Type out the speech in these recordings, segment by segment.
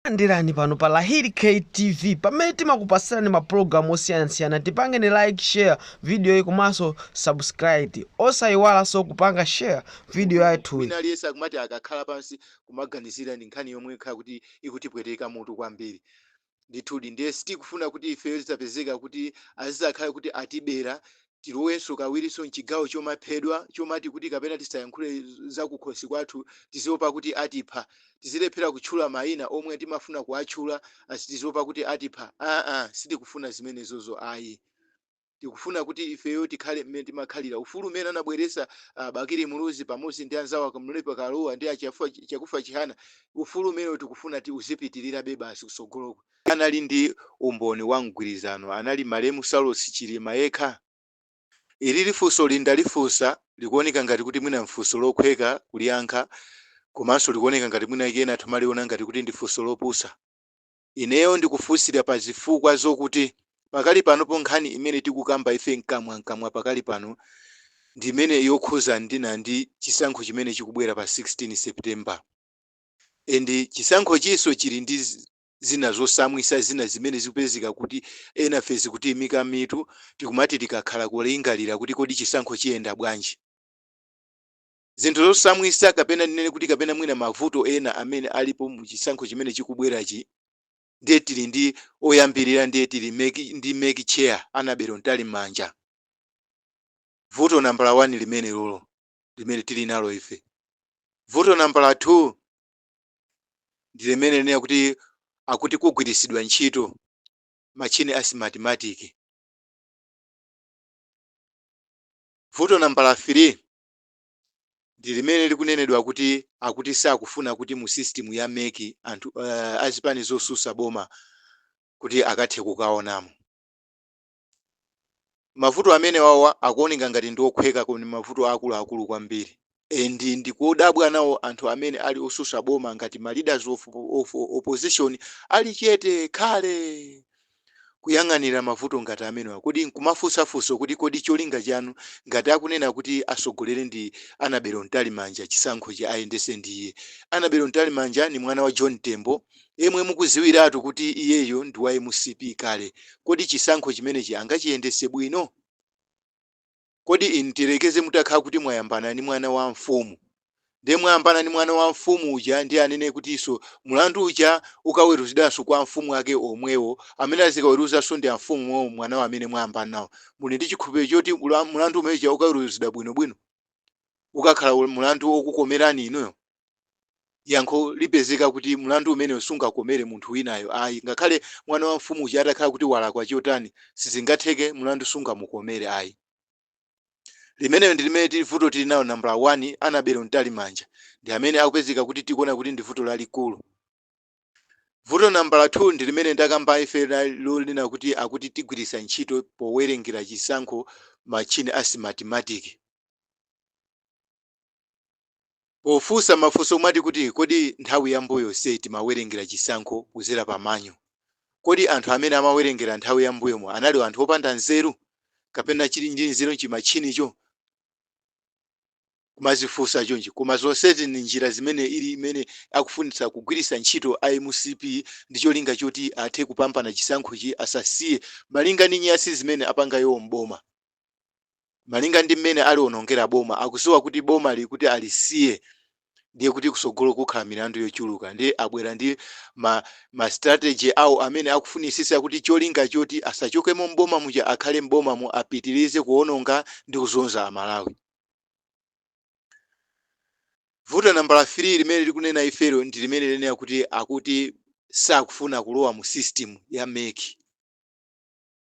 Landirani pano pa Lahiri K TV pamene timakupasirani ma program osiyanasiyana tipangeni like share videoyi komanso subscribe osayiwalaso kupanga share video yathuyi. Wina aliyense akumati akakhala pansi kumaganizira ndi nkhani yomwe ikhala kuti ikutipweteka mutu kwambiri ndithudi ndiye sitikufuna kuti ifeyo tidzapezeka kuti azidzakhala kuti atibera tilowenso kawirinso m'chigawo chomaphedwa, chomati kuti kapena tisayankhule zakukhosi kwathu, tiziopa kuti atipha, tizilephera kutchula maina omwe timafuna kuwatchula tiziopa kuti atipha, aa sitikufuna zimenezozo ayi, tikufuna kuti ifeyo tikhale mmene timakhalira, ufulu umene anabweretsa a Bakili Muluzi pamodzi ndi anzawo a Kamlepo Kaluwa ndi a Chakufa Chihana, ufulu umenewo tikufuna uzipitirirabe basi kutsogoloku. anali ndi umboni wa mgwirizano anali malemu Saulos Chilima yekha? Ili funsoli ndalifunsa likuoneka ngati kuti mwina mfunso lokhweka kuliyankha komanso likuoneka ngati mwina kena timaliona ngati kuti ndi funso lopusa. Ineyo ndikufunsira pa zifukwa zokuti pakali panopo nkhani imene tikukamba ife mkamwamkamwa pakali pano ndi imene yokhuzana ndi chisankho chimene chikubwera pa 16 September and chisankhochinso chili ndi zina zosamwisa zina zimene zikupezeka kuti enafe zikutiimika mitu tikumati tikakhala kulingalira kuti kodi chisankho chiyenda bwanji. Zinthu zosamwisa kapena ndinene kuti kapena mwina mavuto ena amene alipo mu chisankho chimene chikubwerachi ndiye tili ndi oyambirira ndiye tili ndi mec chair Annabel Mtalimanja. Vuto nambala 1 limenelolo limene tili nalo ife. Vuto nambala 2 ndi limene likunena kuti akuti kugwiritsidwa ntchito matchini a Smartmatic. Vuto nambala 3 ndi limene likunenedwa kuti akuti sakufuna kuti mu system ya mec anthu uh, azipani zosusa boma kuti akathe kukaonamo. Mavuto amenewawa akuoneka ngati ndi okhweka koma ndi mavuto akuluakulu kwambiri and ndikudabwa nawo anthu amene ali osusa boma ngati ma leaders of opposition ali chete khale kuyang'anira mavuto ngati amenewa kodi nkumafunsa funso kuti kodi cholinga chanu ngati akunena kuti asogolere ndi Annabel Mtalimanja chisankhochi ayendese ndi iye Annabel Mtalimanja ni mwana wa John Tembo yemwe mukuziwiratu kuti iyeyo ndi wa mcp kale kodi chisankho chimenechi angachiyendese bwino? Kodi tiyerekeze mutakhala kuti mwayambana ndi mwana wa mfumu nde mwayambana ndi mwana wa mfumu uja ndiye anene kutiso mulandu uja ukaweruzidwanso kwa amfumu ake omwewo amene azikaweruzanso ndi amfumu omwewo mwana wawo amene mwayambana nawo muli ndi chikhulupiriro choti ula- mulandu umene uja ukaweruzidwa bwinobwino ukakhala ul- mulandu okukomerani inuyo yankho lipezeka kuti mlandu umenewo sungakomere munthu winayo ayi, ngakhale mwana wa mfumu uja atakhala kuti walakwa chotani, sizingatheke, mlandu sungamukomere ayi. Limenelo ndi limene tili vuto tili nalo nambala wani, Annabel Mtalimanja, ndi amene akupezeka kuti tikuona kuti ndi vuto lalikulu. Vuto nambala 2 ndi limene ndakamba ife la lonena kuti akuti tigwiritsa ntchito powerengera chisankho matchini a simatimatiki. Pofunsa mafunso omwe ati kuti kodi nthawi ya mbuyo yonseyi timawerengera chisankho kuzera pa manyo, kodi anthu amene amawerengera nthawi ya mbuyomo anali anthu opanda nzeru kapena chili ndi nzeru chimatchinicho? kumazifunsa chonchi koma zonsezi ndi njira zimene ili imene akufunitsa kugwiritsa ntchito a mcp ndi cholinga choti athe kupambana chisankhochi asasiye malinga ndi nyasi zimene apanga iwo m'boma. malinga ndi mmene aliwonongera boma akuziwa kuti bomali kuti alisiye ndiye kuti kusogolo kukhala milandu yochuluka ndiye abwera ndi ma, ma strategy awo amene akufunisisa kuti cholinga choti asachokemo mboma muja akhale mboma mu apitirize kuononga ndi kuzunza amalawi vuto nambala 3 limene likunena ifelo ndi limene linena kuti akuti sakufuna kulowa mu system ya meki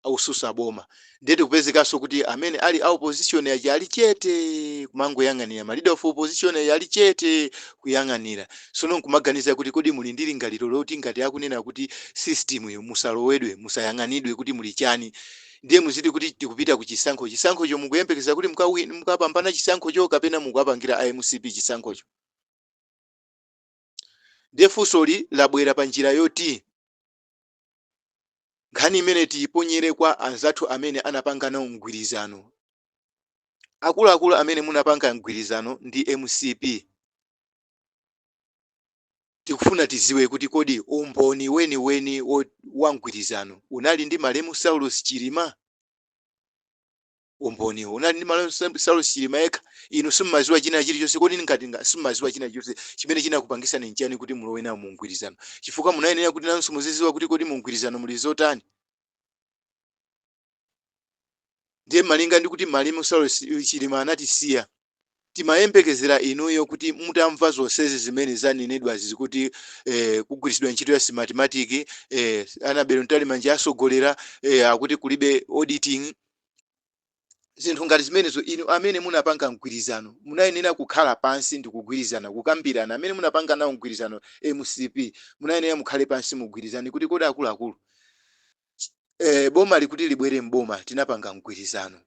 akususa boma ndiye tikupezekanso kuti amene ali a opposition aja ali chete kumangoyang'anira ma leader of opposition aja ali chete kuyang'anira sono nkumaganiza kuti kodi muli ndi lingaliro loti ngati akunena kuti system yo musalowedwe musayang'anidwe kuti muli chani ndiye muziti kuti tikupita ku chisankho chisankhocho mukuyembekeza kuti mukapambana chisankhocho kapena mukuwapangira a mcp chisankhocho ndiye funsoli labwera pa njira yoti Nkhani imeneyi tiiponyere kwa anzathu amene anapanga nawo mgwirizano. Akuluakulu amene munapanga mgwirizano ndi mcp, tikufuna tidziwe kuti kodi umboni weniweni wa mgwirizano unali ndi malemu Saulos Chilima? umboniwo unali ndi malemu saulos chilima yekha inu simumaziwa china chilichonse kodi ngati simumaziwa china chilichonse chimene chinakupangisani nchiyani kuti mulowe nawo mu mgwirizano chifukwa munayenera kuti nanso muziziwa kuti kodi mu mgwirizano muli zotani ndiye malinga ndi kuti malemu saulos chilima anatisiya timayembekezera inuyo kuti mutamva zonsezi zimene zanenedwazi zikuti eh, kugwiritsidwa ntchito ya smartmatic eh, anabelo mtalimanja asogolera eh, akuti kulibe auditing zinthu ngati zimenezo inu amene munapanga mgwirizano munayenera kukhala pansi ndi kugwirizana kukambirana amene munapanga nawo mgwirizano mcp munayenera mukhale pansi mugwirizane kuti kodi akuluakulu eh, bomali kuti libwere mboma tinapanga mgwirizano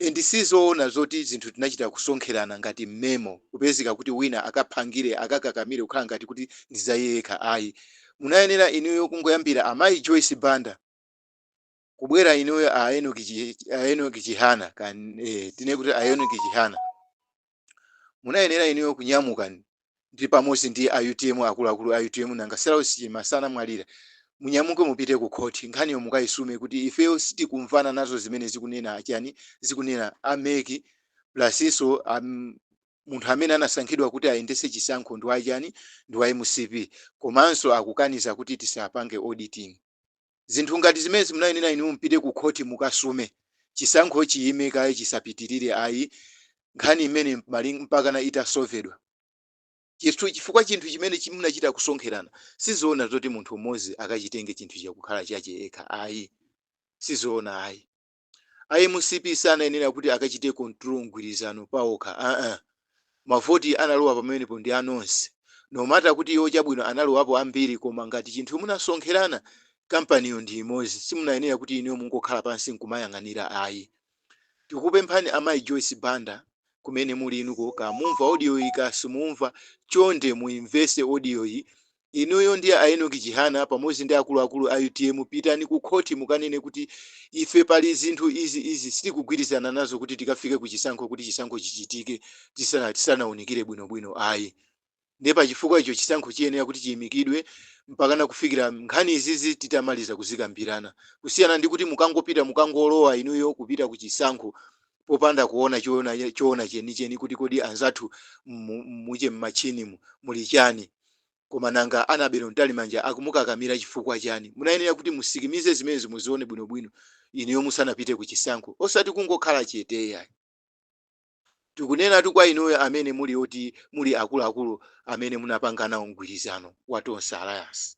Ndi sizoona zoti zinthu tinachita kusonkherana ngati mmemo kupezeka kuti wina akaphangire, akakakamire kukhala ngati kuti ndi za iye yekha ayi. Munayenera inuyo kungoyambira a Mayi Joyce Banda kubwera inuyo a Enock Chihana tinene kuti a Enock Chihana. Munayenera inuyo kunyamuka ndi pamodzi ndi a utm akuluakulu a utm nanga Saulos Chilima sanamwalira? Munyamuke mupite ku khoti nkhaniyo mukayisume kuti ifeyo sitikumvana nazo zimene zikunena achani zikunena a mec plasinso munthu amene anasankhidwa kuti ayendetse chisankho ndi wachani ndi wa mcp komanso akukaniza kuti tisapange auditing. Zinthu ngati zimenezi munayenera inuyo mupite ku khoti mukasume. Chisankho chiyime kaye chisapitirire ayi. Nkhani imene mpakana itasovedwa. Chifukwa chinthu chimene chi munachita kusonkherana si zoona zoti munthu mmodzi akachitenge chinthu chija kukhala chache yekha ayi. Si zoona ayi. A mcp sanayenera kuti akachite control mgwirizano paokha aah. Mavoti analowa pamenepo ndi a nonse. No matter kuti iwo chabwino analowapo ambiri koma ngati chinthu munasonkherana, kampaniyo ndi imodzi, simunayenera kuti inuyo mungokhala pansi nkumayang'anira ayi. Tikukupemphani a Mayi Joyce Banda kumene muli inuko kamumva audioyi kasimumva, chonde muimvese audioyi Inuyo ndi a Enock Chihana pamodzi ndi akuluakulu a utm pitani ku khoti mukanene kuti ife pali zinthu izi izi sitikugwirizana nazo kuti tikafike ku chisankho kuti chisankho chichitike tisana tisanaunikire bwinobwino ayi. Ndiye pa chifukwa icho chisankho chiyenera kuti chiimikidwe mpakana kufikira nkhani izizi titamaliza kuzikambirana. Kusiyana ndi kuti mukangopita mukangolowa inuyo kupita ku chisankho popanda kuona choona choona chenicheni kuti kodi anzathu muje m'machinimu muli chani koma nanga Annabel Mtalimanja akumukakamira chifukwa chani munayenera kuti musikimize zimenezo muzione bwinobwino inuyo musanapite ku chisankho osati kungokhala chete yayi tikunenatu kwa inuyo amene muli oti muli akuluakulu amene munapanga nawo mgwirizano wa tonse alliance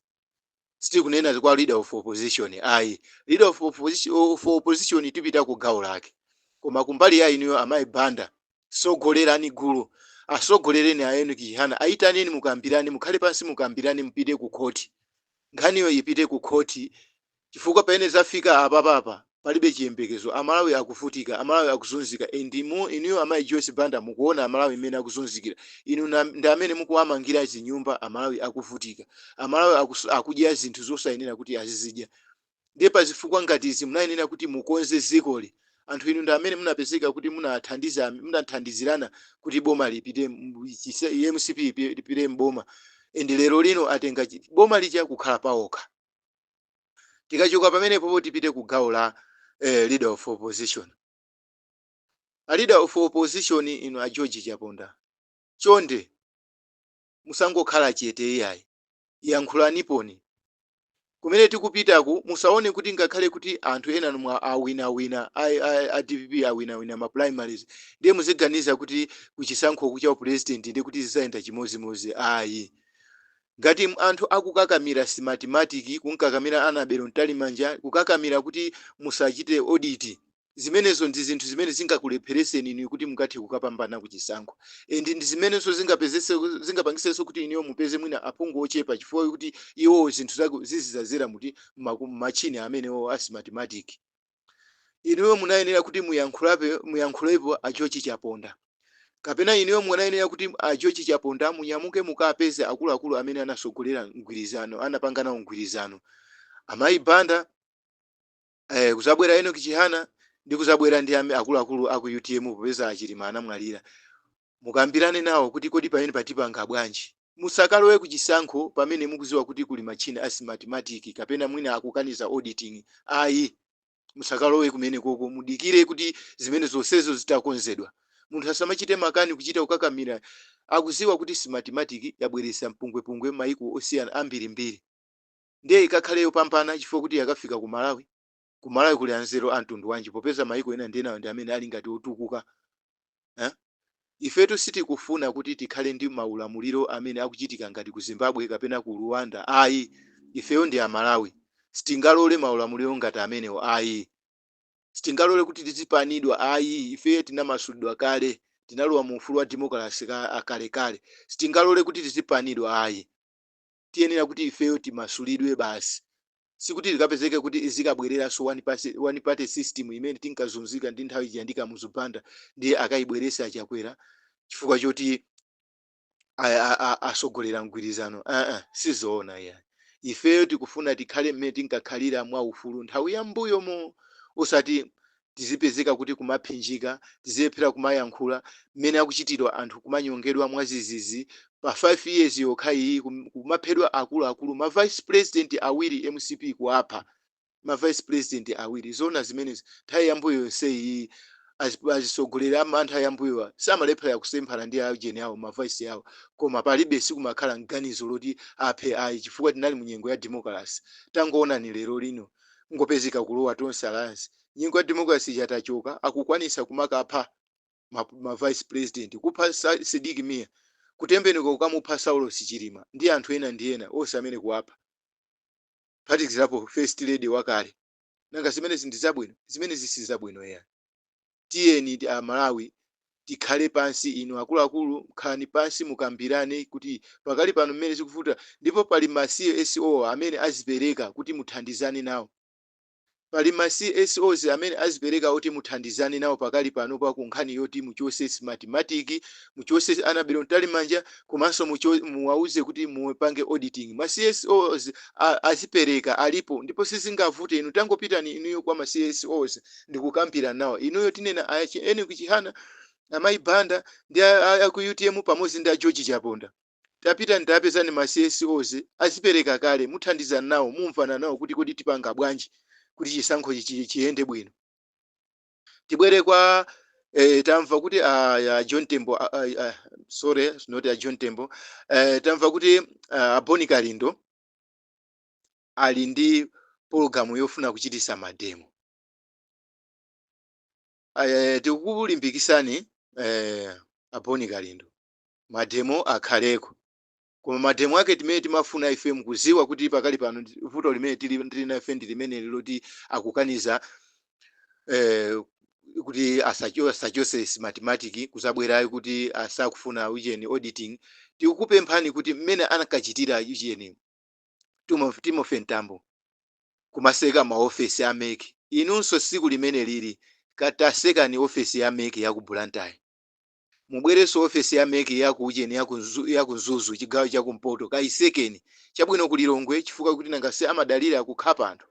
sitikunena kwa leader of opposition ayi leader of opposition tipita ku gawo lake koma kumbali ya inuyo amayi banda sogolerani gulu asogolereni a Enock Chihana ayitaneni mukambirane mukhale pansi mukambirane mupite ku khoti nkhaniyo ipite ku khoti chifukwa pamene zafika apapa apa palibe chiyembekezo amalawi akuvutika amalawi akuzunzika and inuyo amayi Joyce banda mukuona amalawi mmene akuzunzikira inu ndi amene mukuwamangira zinyumba amalawi akuvutika amalawi akus, akudya zinthu zosayenera kuti azizidya ndiye pa zifukwa ngati izi munayenera kuti mukonze zikoli anthu inu ndi amene munapezeka kuti munathandiza munathandizirana kuti boma lipite mu- chise- i mcp ipi- lipite mboma and lero lino atenga chi- boma lija kukhala paokha tikachoka pamenepopo tipite ku gawo la eh, leader of opposition a leader of opposition inu a george chaponda chonde musangokhala chete iyayi yankhulaniponi kumene tikupitaku musaone kuti ngakhale kuti anthu enanu mwawinawina a, a, a dpp awinawina ma primaries ndiye muziganiza kuti kuchisankho kucha upresident ndi kuti zizayenda chimodzimodzi ayi Ngati anthu akukakamira Simatimatiki, kumkakamira Annabel Mtalimanja, kukakamira kuti musachite audit, zimenezo ndi zinthu zimene zingakulepheretseni inuyo kuti mukathe kukapambana ku chisankho and ndi zimenenso zingapezetse, zingapangitsenso kuti inuyo mupeze mwina aphungu ochepa chifukwa chokuti iwowo zinthu zaku, zizidzadzera muti, mmaku, mmatchini amenewo a Simatimatiki. inuyo munayenera kuti muyankhulape muyankhulepo a George Chaponda kapena inuyo munayenera kuti a George Chaponda munyamuke mukapeze akuluakulu amene anasogolera mgwirizano anapanga nawo mgwirizano amayi Banda eh, kuzabwera Enoch Chihana ndi kuzabwera ndi ame- akuluakulu aku UTM popeza a Chilima anamwalira Mukambirane nawo kuti kodi pamenepa tipanga bwanji? Musakalowe ku chisankho pamene mukuziwa kuti kuli matchini a Simatimatiki kapena mwina akukaniza auditing ayi musakalowe kumenekoko mudikire kuti zimene zonsezo zitakonzedwa. Munthu asamachite makani kuchita kukakamira akuziwa kuti Simatimatiki yabweretsa mpungwepungwe maiko osiyana ambirimbiri ndiye ikakhale yopambana chifukwa kuti yakafika ku Malawi. ku malawi kuli anzeru amtundu wanji popeza mayiko ena ndi enawo ndi amene ali ngati otukuka eh? ifetu sitikufuna kuti tikhale ndi maulamuliro amene akuchitika ngati ku zimbabwe kapena ku rwanda ayi ifeyo ndi amalawi sitingalole maulamuliro ngati amenewo ayi sitingalole kuti tizipanidwa ayi ifeyo tinamasulidwa kale tinalowa mu ufulu wa demokalasi ka- akalekale sitingalole kuti tizipanidwa ayi tiyenera kuti ifeyo timasulidwe basi. Sikuti tikapezeke kuti izikabwererano one party, one party system imene tinkazunzika ndi nthawi ija ndi Kamuzu Banda ndiye akayibwerese a Chakwera chifukwa choti a- a- a- asogolera mgwirizano aa sizoona iyayi ifeyo tikufuna tikhale mmene tinkakhalira mwa ufulu nthawi yambuyomo osati tizipezeka kuti kumaphinjika, tizilephera kumayankhula, mmene akuchitidwa anthu kumanyongedwa mwazizizi, pa 5 years yokha iyi kumaphedwa akulu akulu, ma vice president awiri mcp kuwapha, ma vice president awiri, zoona zimenezi, nthawi yambuyo yonse iyi, azitsogoleri amantha yambuyowa samalephera kusemphana ndi a ujeni awo ma vice awo, koma palibe sikumakhala ganizo loti aphe ayi chifukwa tinali munyengo ya demokalase, tangoonani lerolino. kungopezeka kulowa tonse alliance nyengo ya democracy ija tachoka akukwanisa kumakapha ma, ma vice president kupha Sa- Sidik Mia kutembenuka kukamupha Saulos Chilima ndi anthu ena ndi ena onse amene kuwapha phatikizapo first lady wakale nanga zimenezi ndi zabwino zimenezi si zabwino ya tiyenidi a Malawi tikhale pansi inu akuluakulu khalani pansi mukambirane kuti pakali pano mmene zikuvuta ndipo pali ma CSO amene azipereka kuti muthandizane nawo pali ma CSOs amene azipereka kuti muthandizane nawo pakali panopa ku nkhani yoti muchose Smartmatic muchose Annabel Mtalimanja komanso mucho, muwauze kuti mupange auditing ma CSOs a, azipereka alipo ndipo sizingavute inu tangopitani inuyo kwa ma CSOs ndikukambirana nawo inuyo tinena a Enoch Chihana amayi Banda ndi a, a, a ku UTM pamodzi ndi a George Chaponda tapitani tapezani ma CSOs azipereka kale muthandizana nawo mumvana nawo kuti kodi tipanga bwanji kuti chisankho chi- chi- chiyende bwino tibwere kwa eh, tamva kuti a, a John Tembo a, a, a, sorry not a John Tembo eh, tamva kuti ah, a Bon Kalindo ali ndi pologamu yofuna kuchitisa mademo eh, tikukulimbikisani eh, a Bon Kalindo mademo akhaleko koma mademo ake timene timafuna ife mkuziwa kuti pakali pano ndi- vuto limene tili tili nafe ndi limeneli loti akukaniza eh, kuti asacho- asachose Smartmatic kuzabwerayo kuti asakufuna ujeni auditing tikukupemphani kuti mmene anakachitira ujeni Timof- Timothy Mtambo kumaseka maofesi a MEC inunso siku limene lili katasekani ofesi ya MEC ya ku Blantyre mubwerenso ofesi ya MEC ya ku ujeni ya ku Nzu- ya ku Mzuzu chigawo cha kumpoto kayisekeni chabwino ku Lilongwe chifukwa kuti nanga si amadalira kukhapa anthu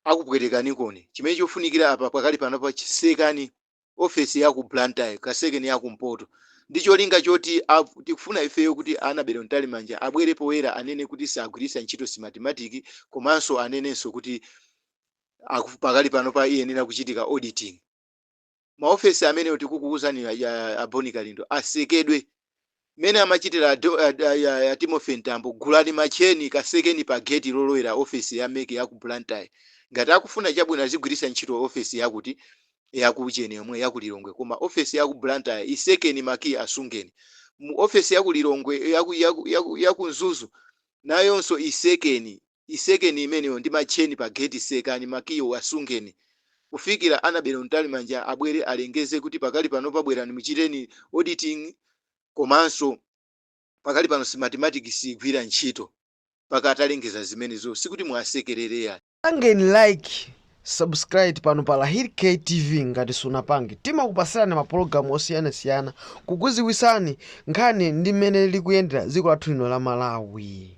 akupwetekanikoni chimene chofunikira apa pakali panopa chisekani office ya ku Blantyre kasekeni ya kumpoto ndi cholinga choti ab- tikufuna ifeyo kuti Annabel Mtalimanja abwere poyera anene kuti sagwiritsa ntchito Smartmatic komanso anenenso kuti aku- pakali panopa iyenera kuchitika auditing maofesi amene tikukuuzani ya a Bon Kalindo asekedwe mmene amachitira a, Do- a, a, a, a timothy mtambo gulani matcheni kasekeni pa geti lolowera ofesi ya mec ya ku blantyre ngati akufuna chabwino azigwiritsa ntchito ofesi yakuti yakucheni yomwe yaku lilongwe koma ofesi yaku blantyre isekeni makiyi asungeni mu ofesi yaku lilongwe yaku, yaku, yaku, yaku mzuzu nayonso isekeni Isekeni imeneyo ndi ma chain pa gate sekani makiyi wo asungeni kufikila Annabel Mtalimanja abwele alengeze kuti pakali panopa bwelani muchiteni auditing komanso pakali pano Smartmatic siigwila ntchito mpaka atalengeza zimenezo sikuti muwasekelele yayi. Pangeni like, subscribe pano pa Lahir K TV ngati simunapange. Timakupasilani mapologalamu osiyanasiyana kukuziwisani nkhani ndi mmene likuyendela ziko lathu lino la Malawi.